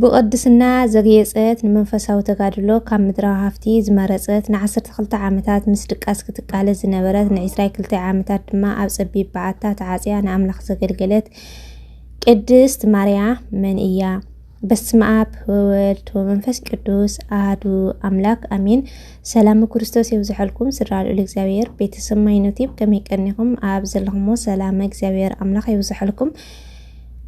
ብቕድስና ዘግየጸት፣ ንመንፈሳዊ ተጋድሎ ካብ ምድራዊ ሃፍቲ ዝመረጸት፣ ንዓሰርተ ክልተ ዓመታት ምስ ድቃስ ክትቃለስ ዝነበረት፣ ንዕስራይ ክልተ ዓመታት ድማ ኣብ ጸቢብ በዓታ ተዓጽያ ንኣምላኽ ዘገልገለት ቅድስት ማርያ መን እያ? በስመ ኣብ ወወልድ ወመንፈስ ቅዱስ ኣህዱ ኣምላክ ኣሜን። ሰላም ክርስቶስ የብዝሐልኩም ስድራ ልዑል እግዚኣብሔር ቤተሰብ ማይኖቲብ ከመይ ቀኒኹም ኣብ ዘለኹሞ ሰላም እግዚኣብሔር ኣምላኽ የብዝሐልኩም።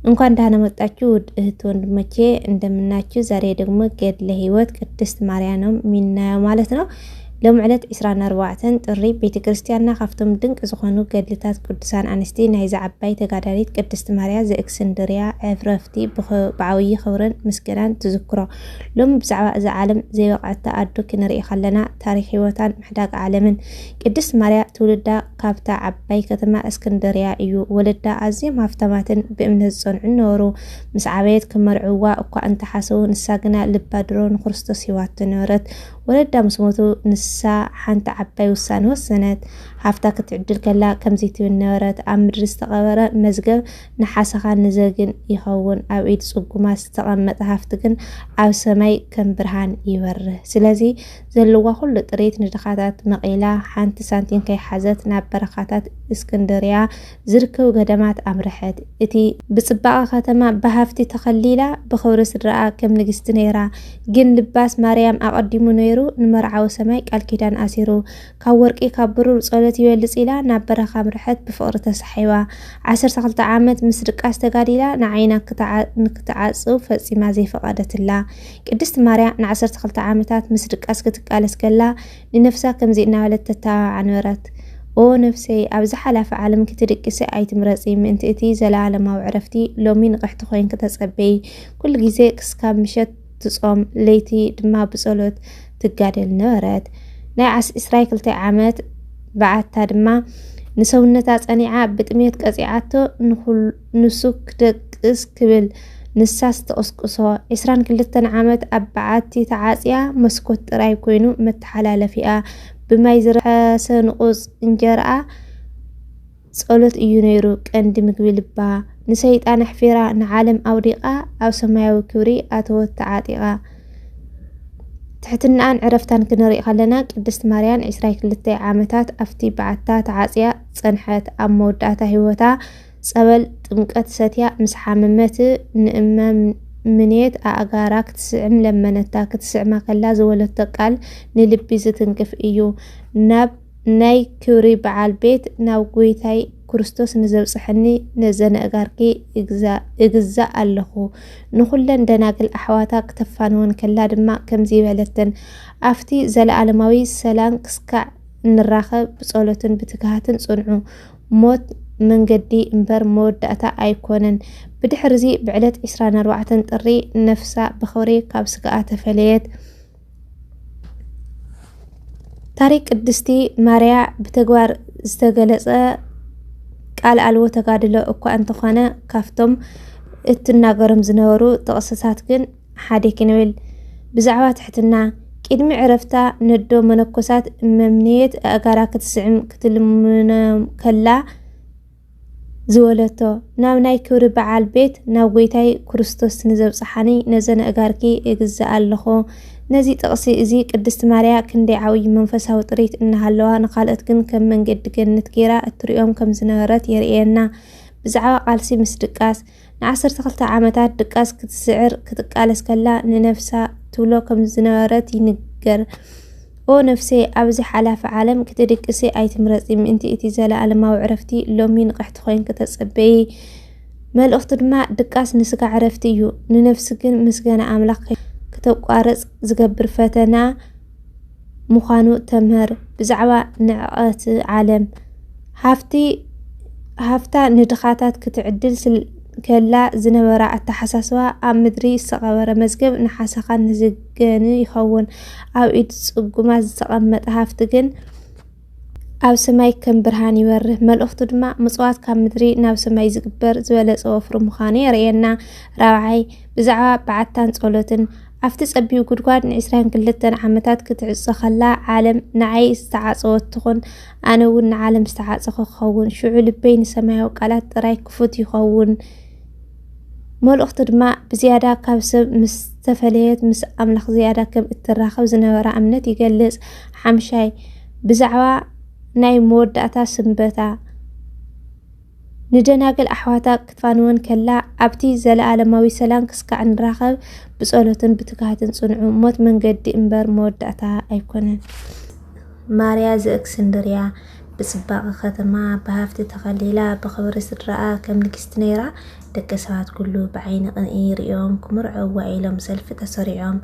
እንኳን ደህና መጣችሁ ውድ እህት ወንድሞቼ እንደምናችሁ። ዛሬ ደግሞ ገድለ ሕይወት ቅድስት ማርያም ነው የሚናየው ማለት ነው። ሎሚ ዕለት 24 ጥሪ ቤተ ክርስቲያንና ካብቶም ድንቂ ዝኾኑ ገድልታት ቅዱሳን ኣንስቲ ናይዛ ዓባይ ተጋዳሊት ቅድስት ማርያ ዘእክስንድርያ ዕፍረፍቲ ብዓብዪ ክብርን ምስጋናን ትዝክሮ። ሎሚ ብዛዕባ እዛ ዓለም ዘይበቕዐታ ኣዱ ክንርኢ ከለና ታሪክ ሕይወታን ምሕዳግ ዓለምን ቅድስት ማርያ ትውልዳ ካብታ ዓባይ ከተማ እስክንድርያ እዩ። ወለዳ ኣዝዮም ሃፍታማትን ብእምነት ዝጸንዑን ነበሩ። ምስ ዓበየት ክመርዕዋ እኳ እንተ ሓሰቡ፣ ንሳ ግና ልባ ድሮ ንክርስቶስ ሂባቶ ነበረት። ወለዳ ምስ ሞቱ፣ ንሳ ሓንቲ ዓባይ ውሳነ ወሰነት። ሃፍታ ክትዕድል ከላ ከምዚ ትብል ነበረት፣ ኣብ ምድሪ ዝተቐበረ መዝገብ ንሓሰኻን ንዘግን ይኸውን፣ ኣብ ኢድ ጽጉማት ዝተቐመጠ ሃፍቲ ግን ኣብ ሰማይ ከም ብርሃን ይበርህ። ስለዚ ዘለዋ ኩሉ ጥሪት ንድኻታት መቒላ ሓንቲ ሳንቲም ከይሓዘት ናብ በረኻታት እስክንድርያ ዝርከቡ ገዳማት ኣምርሐት። እቲ ብጽባቐ ከተማ ብሃፍቲ ተኸሊላ ብኽብሪ ስድራኣ ከም ንግስቲ ነይራ። ግን ልባስ ማርያም ኣቐዲሙ ነይሩ ንመርዓዊ ሰማይ ቃል ኪዳን ኣሲሩ። ካብ ወርቂ ካብ ብሩር ጸሎት ይበልጽ ኢላ ናብ በረኻ ኣምርሐት ብፍቕሪ ተሳሒባ። ዓሰርተ ክልተ ዓመት ምስ ድቃስ ተጋዲላ ንዓይና ንክትዓጽው ፈጺማ ዘይፈቐደትላ። ቅድስቲ ማርያ ንዓሰርተ ክልተ ዓመታት ምስ ድቃስ ክትቃለስ ከላ ንነፍሳ ከምዚ እናበለት ተተባብዓ ነበረት። ኦ ነፍሰይ ኣብዚ ሓላፊ ዓለም ክትድቅሲ ኣይትምረጺ ምእንቲ እቲ ዘለኣለማዊ ዕረፍቲ ሎሚ ንቕሕቲ ኮይንኪ ተጸበዪ። ኩሉ ግዜ ክስካብ ምሸት ትጾም ለይቲ ድማ ብጸሎት ትጋደል ነበረት። ናይ ዓስ ዕስራይ ክልተ ዓመት በዓታ ድማ ንሰውነታ ጸኒዓ ብጥሜት ቀጺዓቶ ንኹሉ ንሱ ክደቅስ ክብል ንሳስ ትቕስቅሶ። ዕስራን ክልተን ዓመት ኣብ በዓቲ ተዓጽያ መስኮት ጥራይ ኮይኑ መተሓላለፊኣ ብማይ ዝረሓሰ ንቑጽ እንጀራኣ ጸሎት እዩ ነይሩ ቀንዲ ምግቢ ልባ ንሰይጣን ኣሕፊራ ንዓለም ኣውዲቓ ኣብ ሰማያዊ ክብሪ ኣተወት ተዓጢቓ ትሕትናኣን ዕረፍታን ክንርኢ ከለና ቅድስት ማርያን 22 ዓመታት ኣብቲ በዓታ ተዓፅያ ፀንሐት ኣብ መወዳእታ ህይወታ ጸበል ጥምቀት ሰትያ ምስ ሓመመት ንእመ ምኔት ኣእጋራ ክትስዕም ለመነታ። ክትስዕማ ከላ ዝወለቶ ቃል ንልቢ ዝትንክፍ እዩ። ናብ ናይ ክብሪ በዓል ቤት ናብ ጎይታይ ክርስቶስ ንዘብጽሐኒ ነዘነእጋርኪ እግዛእ ኣለኹ። ንኹለን ደናግል ኣሕዋታ ክተፋንወን ከላ ድማ ከምዚ በለተን፣ ኣብቲ ዘለኣለማዊ ሰላም ክስካዕ እንራኸብ ብጸሎትን ብትግሃትን ጽንዑ። ሞት መንገዲ እምበር መወዳእታ ኣይኮነን። ብድሕርዚ ብዕለት 24 ጥሪ ነፍሳ ብኽብሪ ካብ ስጋኣ ተፈለየት። ታሪክ ቅድስቲ ማርያ ብተግባር ዝተገለጸ ቃል ኣልቦ ተጋድሎ እኳ እንተኾነ ካብቶም እትናገሮም ዝነበሩ ጥቕስታት ግን ሓደ ክንብል ብዛዕባ ትሕትና ቅድሚ ዕረፍታ ነዶ መነኮሳት መምነየት ኣእጋራ ክትስዕም ክትልምነ ከላ ዝበለቶ ናብ ናይ ክብሪ በዓል ቤት ናብ ጎይታይ ክርስቶስ ንዘብፅሓኒ ነዘን ኣእጋርኪ እግዛእ ኣለኹ። ነዚ ጥቕሲ እዚ ቅድስት ማርያ ክንደይ ዓብዪ መንፈሳዊ ጥሪት እናሃለዋ ንካልኦት ግን ከም መንገዲ ገነት ገይራ እትሪኦም ከም ዝነበረት የርእየና። ብዛዕባ ቃልሲ ምስ ድቃስ ንዓሰርተ ክልተ ዓመታት ድቃስ ክትስዕር ክትቃለስ ከላ ንነፍሳ ትብሎ ከም ዝነበረት ይንገር። ኦ ነፍሰይ ኣብዚ ሓላፊ ዓለም ክትድቅሲ ኣይትምረጺ ምእንቲ እቲ ዘለኣለማዊ ዕረፍቲ ሎሚ ንቕሕቲ ኮይንኪ ተጸበዪ መልእኽቱ ድማ ድቃስ ንስጋ ዕረፍቲ እዩ ንነፍሲ ግን ምስጋና ኣምላኽ ክተቋርጽ ዝገብር ፈተና ምዃኑ ተምህር። ብዛዕባ ንዕቐት ዓለም፣ ሃፍቲ ሃፍታ ንድኻታት ክትዕድል ከላ ዝነበራ ኣተሓሳስባ ኣብ ምድሪ ዝተቐበረ መዝገብ ንሓሰኻን ንዝገን ይኸውን። ኣብ ኢድ ጽጉማት ዝተቐመጠ ሃፍቲ ግን፣ ኣብ ሰማይ ከም ብርሃን ይበርህ። መልእኽቱ ድማ ምጽዋት ካብ ምድሪ ናብ ሰማይ ዝግበር ዝበለጸ ወፍሪ ምዃኑ የርእየና። ራብዓይ፣ ብዛዕባ በዓታን ጸሎትን ኣብቲ ጸቢብ ጉድጓድ ንዕስራን ክልተን ዓመታት ክትዕጾ ከላ ዓለም ንዓይ ዝተዓጸወት ትኹን ኣነ እውን ንዓለም ዝተዓጸኹ ክኸውን ሽዑ ልበይ ንሰማያዊ ቃላት ጥራይ ክፉት ይኸውን መልእኽቱ ድማ ብዝያዳ ካብ ሰብ ምስ ዝተፈለየት ምስ ኣምላኽ ዝያዳ ከም እትራኸብ ዝነበራ እምነት ይገልጽ። ሓምሻይ፣ ብዛዕባ ናይ መወዳእታ ስንበታ ንደናግል ኣሕዋታ ክትፋንወን ከላ፣ ኣብቲ ዘለኣለማዊ ሰላም ክስካዕ ንራኸብ፣ ብጸሎትን ብትግሃትን ጽንዑ፣ ሞት መንገዲ እምበር መወዳእታ ኣይኮነን። ማርያ ዘእክስንድርያ ብጽባቐ ከተማ፣ ብሃብቲ ተኸሊላ፣ ብኽብሪ ስድራኣ ከም ንግስቲ ነይራ፣ ደቂ ሰባት ኩሉ ብዓይኒ ቅንኢ ይርእዮም፣ ክምርዐዋ ኢሎም ሰልፊ ተሰሪዖም።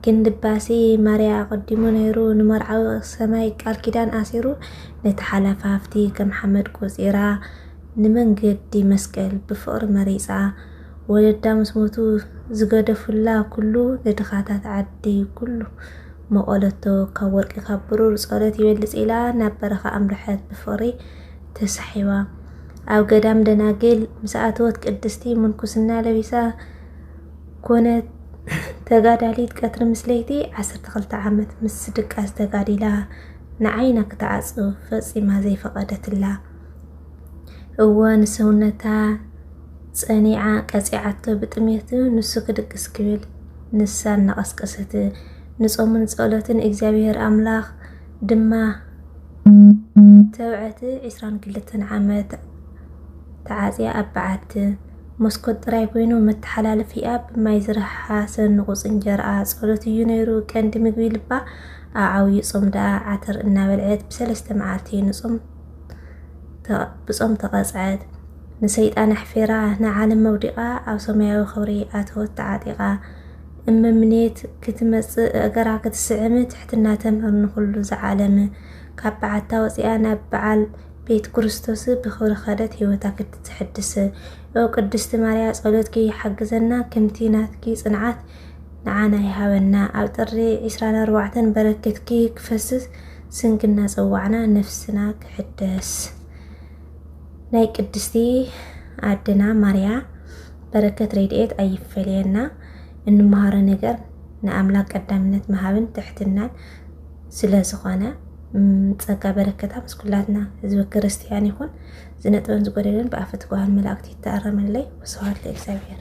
ግን ልባሲ ማርያ ኣቐዲሙ ነይሩ፣ ንመርዓዊ ሰማይ ቃል ኪዳን ኣሲሩ፣ ነቲ ሓላፊ ሃብቲ ከም ሓመድ ቆጺራ፣ ንመንገዲ መስቀል ብፍቕሪ መሪጻ፣ ወለዳ ምስ ሞቱ ዝገደፉላ ኩሉ ንድኻታት ዓዲ ኩሉ መቐለቶ ካብ ወርቂ ካብ ብሩር ጸሎት ይበልጽ ኢላ ናብ በረኻ ኣምርሐት ብፍቕሪ ተሳሒባ ኣብ ገዳም ደናግል ምስ ኣተወት ቅድስቲ ምንኩስና ለቢሳ ኮነት። ተጋዳሊት ቀትሪ ምስ ለይቲ 12 ዓመት ምስ ድቃስ ተጋዲላ ንዓይና ክትዓጽው ፈጺማ ዘይፈቐደትላ እወ ንሰውነታ ጸኒዓ ቀጺዓቶ ብጥሜት ንሱ ክድቅስ ክብል ንሳ እናቐስቀሰት ንጾምን ጸሎትን እግዚኣብሔር ኣምላኽ ድማ ተብዐት ዕስራን ክልተን ዓመት ተዓጽያ ኣብ በዓቲ መስኮት ጥራይ ኮይኑ መተሓላለፊኣ ብማይ ዝረሓሓ ሰንቑፅ እንጀርኣ ጸሎት እዩ ነይሩ ቀንዲ ምግቢ ልባ ኣብ ዓብዩ ጾም ደኣ ዓተር እናበልዐት ብሰለስተ መዓልቲ ንጾም ብጾም ተቐጽዐት። ንሰይጣን ኣሕፊራ ንዓለም መውዲቓ ኣብ ሰማያዊ ክብሪ ኣተወት ተዓጢቓ። እመምኔት ክትመጽእ እገራ ክትስዕም ትሕትና ተምህር ንኹሉ ዝዓለም። ካብ በዓታ ወፂኣ ናብ በዓል ቤት ክርስቶስ ብኽብሪ ኸደት ህይወታ ክትትሕድስ። ኦ ቅድስቲ ማርያ ጸሎትኪ ይሓግዘና ከምቲ ናትኪ ጽንዓት ንዓና ይሃበና። ኣብ ጥሪ 24 በረከትኪ ክፈስስ ስንኪ እናፀዋዕና ነፍስና ክሕደስ ናይ ቅድስቲ ኣድና ማርያ በረከት ሬድኤት ኣይፈለየና። እንመሃሮ ነገር ንኣምላክ ቀዳምነት ምሃብን ትሕትናን ስለ ዝኾነ ጸጋ በረከታ ምስ ኩላትና ህዝቢ ክርስትያን ይኹን። ዝነጥበን ዝጎደለን ብኣፈ ትጉሃን መላእክቲ ይተኣረመለይ። ወስብሐት ለእግዚኣብሔር።